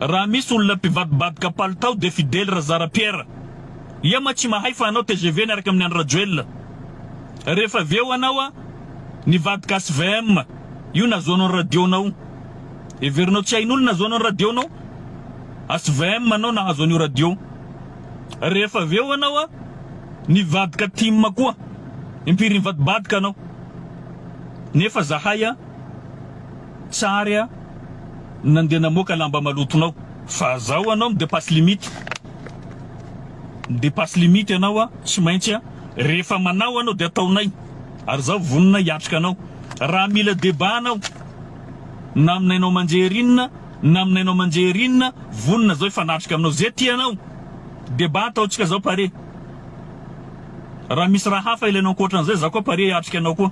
Raha misy olona mpivadibadoka palitao dia Fidèle Razarapiera. Ia ma tsy mahay fa hanao tgv niaraka amin'ny Andry Rajoelina. Rehefa avy eo anao a nivadika HVM io nahazoanao ny radio-nao. Heverinao tsy hain'olona nahazoanao ny radio-nao? HVM anao nahazo an'io radio. Rehefa avy eo anao a nivadika tim koa. Impiry nivadibadoka anao? Nefa zahay a. Tsary a! Nandeha namoaka lamba malotonao fa zao anao mi-depasse limite. Mi-depasse limite ianao a! Tsy maintsy a! Rehefa manao anao dia ataonay ary zaho vonona hiatrika anao. Raha mila débat anao na amin'ny haino aman-jery inona na amin'ny haino aman-jery inona, vonona zaho hifanatrika aminao. Ze tianao! Débat ataontsika zao pare. Raha misy raha hafa ilainao ankoatran'izay, za koa pare hiatrika anao koa.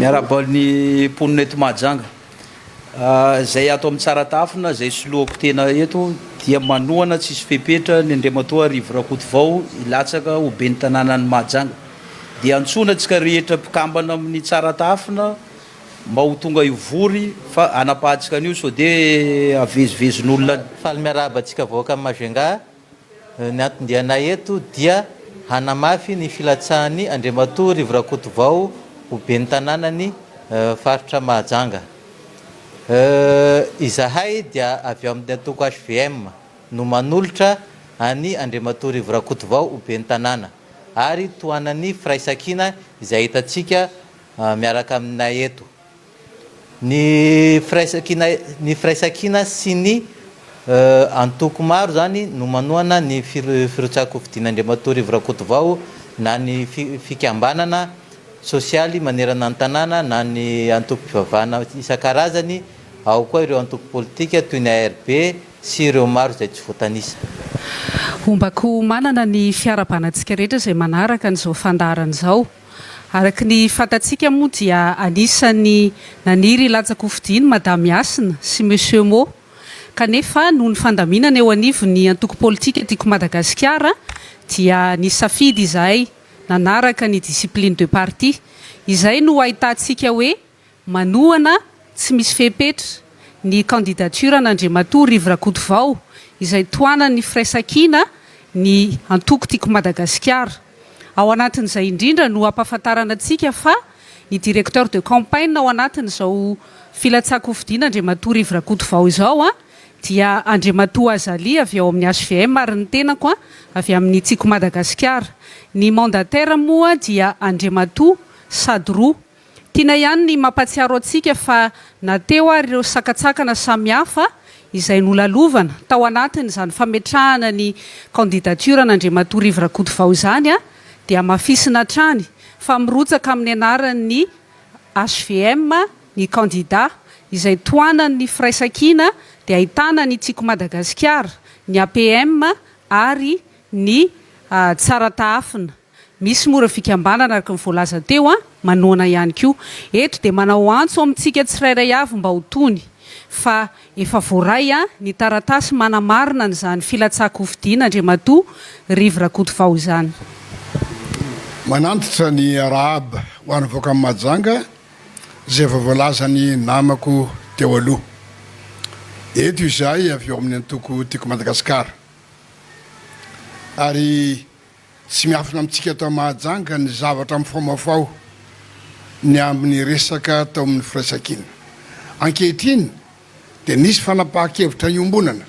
Miarahaba ny mponina eto Mahajanga. Izay ato amin'ny Tsaratafona, izay soloako tena eto dia manohana tsy hisy fepetra ny Andriamatoa Rivo Rakotovao hilatsaka ho Ben'ny Tanànan'i Mahajanga. Dia antsoina antsika rehetra mpikambana amin'ny Tsaratafona mba ho tonga hivory fa hanapahantsika an'io sao dia havezivezin'olona any. Faly miarahaba antsika vahoakan'i Majunga Ny anton-dianay eto dia hanamafy ny filatsahan'ny Andriamatoa Rivo Rakotovao ho Ben'ny Tanànan'ny Faritra Mahajanga. Izahay dia avy ao amin'ny antoko hvm no manolotra an'i Andriamatoa Rivo Rakotovao ho Ben'ny Tanàna ary tohanan'ny firaisankina izay hitantsika miaraka aminay eto. Ny firaisankina ny firaisankina sy ny antoko maro izany no manohana ny firotsahan-kofidiana Andriamatoa Rivo Rakotovao na ny fikambanana sosialy manerana ny tanàna na ny antokom-pivavahana isan-karazany, ao koa ireo antoko politika toy ny ARB sy ireo maro izay tsy voatanisa. Ombako ho manana ny fiarabanantsika rehetra izay manaraka an'izao fandaharana izao. Araka ny fantatsika moa dia anisan'ny naniry hilanja kofidin i Madame Hasina sy Monsieur Mo, kanefa noho ny fandaminana eo anivon'ny antoko politika Tiako Madagasikara dia nisafidy izahay nanaraka ny discipline de parti. Izay no ahitantsika hoe Manohana tsy misy fepetra ny candidature an'Andriamatoa Rivo Rakotovao izay tohanan'ny Firaisankina ny antoko Tiako Madagasikara. Ao anatin'izay indrindra no ampahafantarana antsika fa ny directeur de campagne ao anatin'izao filatsahan-kofidina Andriamatoa Rivo Rakotovao izao dia Andriamatoa Azali avy ao amin'ny HVM ary ny tenako avy amin'ny Tiako Madagasikara. Ny mandataire moa dia Andriamatoa Sadoroa. Tiana ihany ny mampatsiaro antsika fa na teo ary ireo sakantsakana samihafa izay nolalovana tao anatin'izany fametrahana ny candidature an'Andriamatoa Rivo Rakotovao izany dia hamafisina hatrany fa mirotsaka amin'ny anaran'ny hvm ny kandida izay tohanan'ny firaisankina dia ahitana ny Tsiko Madagasikara, ny APM ary ny Tsaratahafina. Misy moa ireo fikambanana, araka ny voalaza teo, manohana ihany koa. Eto dia manao antso amintsika tsirairay avy mba ho tony fa efa voaray ny taratasy manamarina an'izany filatsahan-kofidiana Andriamatoa Rivo Rakotovao izany. Manantitra ny Rahab ho any Voakamby Mahajanga izay efa voalazan'ny namako teo aloha. Eto izahay avy ao amin'ny antoko Tiako Madagasikara ary Tsy miafina amintsika tao Mahajanga ny zavatra mifaomafaho ny amin'ny resaka tao amin'ny firaisankina. Ankehitriny dia nisy fanapahan-kevitra niombonana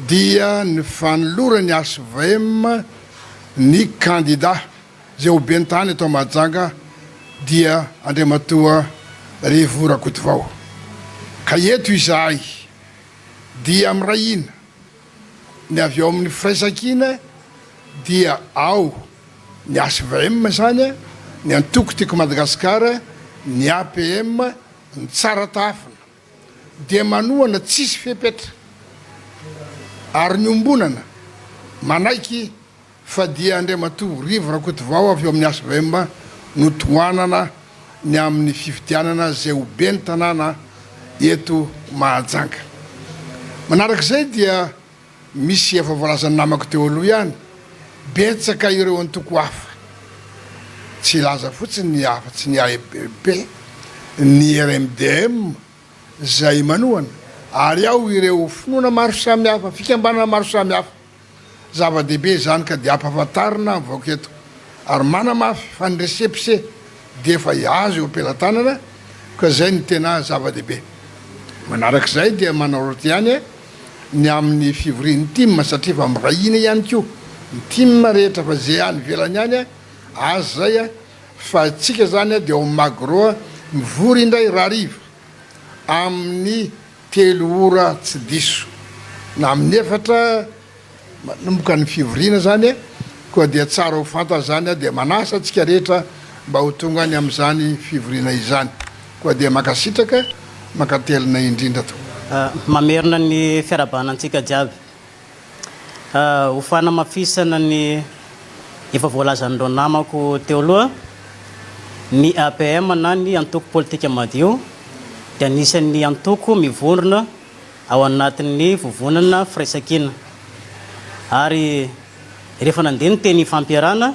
dia ny fanoloran'ny HVM ny kandida izay ho ben'ny tany eto Mahajanga dia Andriamatoa Revo Rakotovao. Ka eto izahay dia miray hina. ny avy ao amin'ny firaisankina dia ao ny HVM izany an, ny antoko Tiako Madagasikara, ny APM, ny Tsara Tahafina dia manohana tsisy fepetra ary miombonana manaiky fa dia Andriamatoa Rivo Rakotovao avy ao amin'ny HVM no tohanana ny amin'ny fifidianana izay ho ben'ny tanàna eto Mahajanga. Manaraka izay dia misy efa voalazan'ny namako teo aloha ihany, betsaka ireo antoko hafa, tsy hilaza fotsiny ny afa-tsy ny AEPP, ny RMDM izay manohana, ary ao ireo finoana maro samihafa, fikambanana maro samihafa. Zava-dehibe izany ka dia ampahafantarina ny vahoaka eto ary manamafy fa ny récépissé dia efa azo eo am-pelatanana ka izay no tena zava-dehibe. Manaraka izay dia manaraotra ihany ny amin'ny fivorian'ny tim satria efa mirahina ihany koa ny tim rehetra fa izay any ivelany any aza izay fa tsika izany dia ao Magro mivory indray rahariva amin'ny Telo ora tsy diso na amin'ny efatra manomboka ny fivoriana izany koa dia tsara ho fantany izany dia manasa antsika rehetra mba ho tonga any amin'izany fivoriana izany koa dia mankasitraka mankatelina indrindra tompoko. Mamerina ny fiarahabana antsika jiaby. Ho fanamafisana ny efa voalazan'ireo namako teo aloha, ny APM na ny Antoko Politika Madio dia anisan'ny antoko mivondrona ao anatin'ny Vovonana Firaisankina. Ary rehefa nandeha ny teny ifampiarahana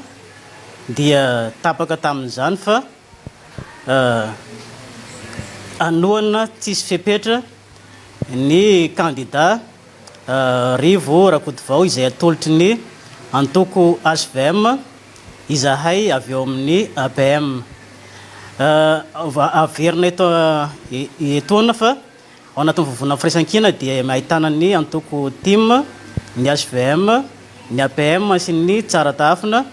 dia tapaka tamin'izany fa hanohana tsisy fepetra ny kandida. Rivo Rakotovao izay atolotry ny antoko HVM, izahay avy ao amin'ny APM. Averina eto etoana fa ao anatin'ny vovonana firaisankina dia ahitana ny antoko tim, ny HVM, ny APM sy ny Tsara Tahafina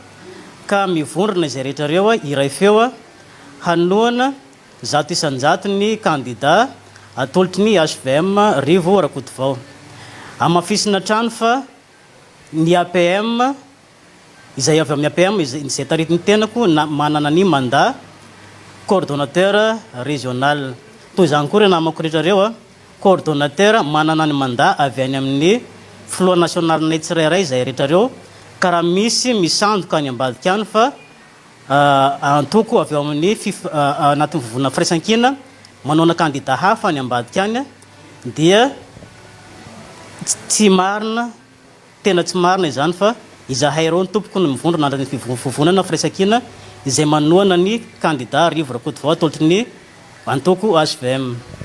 ka mivondrona izay rehetra ireo iray feo hanohana Zato isan-jato ny kandidà atolotry ny HVM Rivo Rakotovao. Hamafisina hatrany fa ny APM, izay avy amin'ny APM izay taritin'ny tenako na manana ny mandat coordonnateur régional. Toy izany koa ireo namako rehetra ireo coordonnateur manana ny mandat avy any amin'ny filoha nasionalinay tsirairay izay rehetra ireo ka raha misy misandoka any ambadika any fa Antoko avy ao amin'ny anatin'ny vovonana firaisankina manohana kandida hafa any ambadika any dia tsy marina, tena tsy marina izany fa izahay ireo no tompoko ny mivondrona anatin'ny vovonana firaisankina izay manohana ny kandida Rivo Rakotovao atolotry ny antoko hvm.